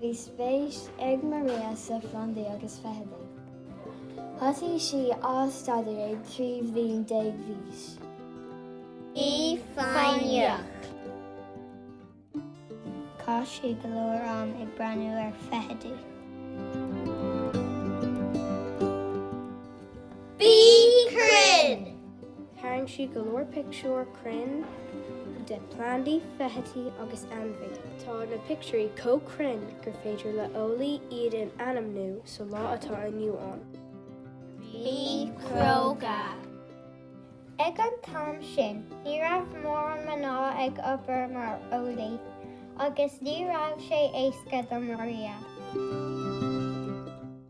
Bhí spéis ag Maria sna plandaí agus feithidí. Thosaigh sí á staidéar ag trí bhliain déag d'aois. Bí foighneach. Chaith sí go leor am ag breathnú ar feithidí. Bí cruinn! Tharraing sí go leor pictiúr. cruinn de plandaí, feithidí agus ainmhí. Tá na pictiúirí chomh cruinn gur féidir le eolaí iad a ainmniú sa lá atá inniu ann. Bí cróga! Ag an t-am sin, ní raibh mórán mná ag obair mar eolaí, agus ní raibh sé éasca do Maria.